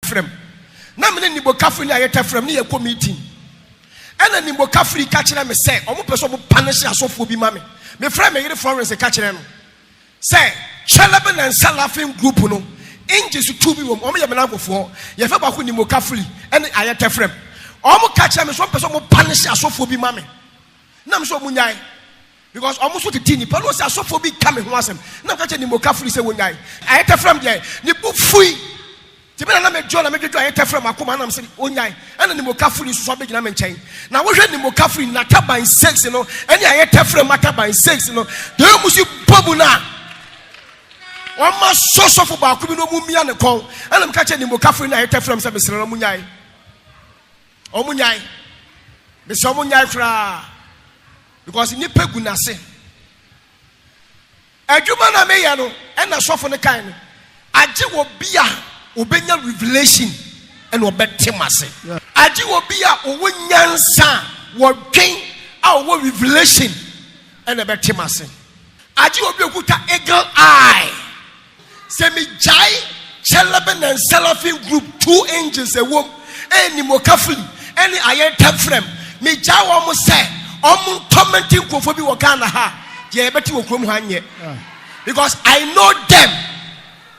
fram. Na me ne nimokafo nya ayɛtɛ fram ne yɛkɔ meeting. Ɛna nimokafo yi ka kyerɛ me sɛ wɔn pɛ sɛ wɔn panehyɛ asɔfoɔ bi ma me. Me frɛ me yere Florence ka kyerɛ no sɛ Kyɛlɛbe na nsa laughing group no ngye so tu bi wɔm. Wɔn yɛ me nanfofoɔ. Yɛfɛ baako nimokafo yi ɛne ayɛtɛ fram. Wɔn ka kyerɛ me sɛ wɔn pɛ sɛ wɔn panehyɛ asɔfoɔ bi ma me. Na me sɛ wɔn nyae. Because ɔmo nso tete nnipa no ɔse asɔfoɔ bi ka me ho asɛm na meka kyerɛ nimokafo ni sɛ wɔnyae. Ayɛtɛfrɛm deɛ ne bo fui nti me na na me dwo na me dwodwo ayɛtɛfrɛm akoma ɛna mese ɔnyae ɛna nimokafo ni nso so abɛgyina me nkyɛn na wohwɛ nimokafo ni nataban six no ɛne ayɛtɛfrɛm ataban six no deɛ ɔmu si bɔ mu no a ɔma sɔ sɔfo baako bi na ɔmu mia ne kɔn ɛna meka kyerɛ nimokafo ni na ayɛtɛfrɛm sɛ mesrɛ no ɔmu nyae Ɔmo nyae. Mesɛ ɔmo nyae koraa because nipa gu nase. Adwuma na me yɛ no ɛna sɔfo no kae no agye wɔ bi a ɔbɛnya revelation ɛna ɔbɛte mase. Agye wɔ bi a ɔwɔ nyansa a wɔdwen a ɔwɔ revelation ɛna ɛbɛte mase. Agye wɔ bi a ɔkuta eagle eye Sɛ me gyae Celebi ne Seraphim group two angels ɛwom ɛyɛ nimokafli ɛne ayɛntɛmfrɛm me gyae wɔn sɛ wɔn ntɔmɛnti nkurɔfoɔ bi wɔ Ghana ha deɛ yɛbɛte wɔ kurom ha nyɛ because I know them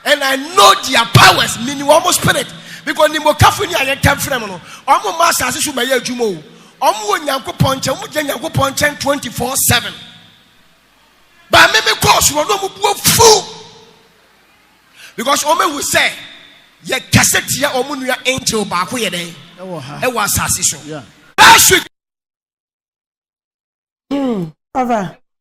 and I know their powers mini wɔn spirit because nimokafli ne ayɛntɛmfrɛm no wɔn mma asase so bɛyɛ adwuma o wɔn wɔ Nyankopɔn nkyɛn wɔn gyina Nyankopɔn nkyɛn twenty four seven. ba me me kɔɔso no ɔno ɔmo bu afu because ɔmo ehu sɛ yɛ kasa tia ɔmo nua angel baako yɛ dɛ ɛwɔ ha ɛwɔ asase so last week. Hmm, Papa,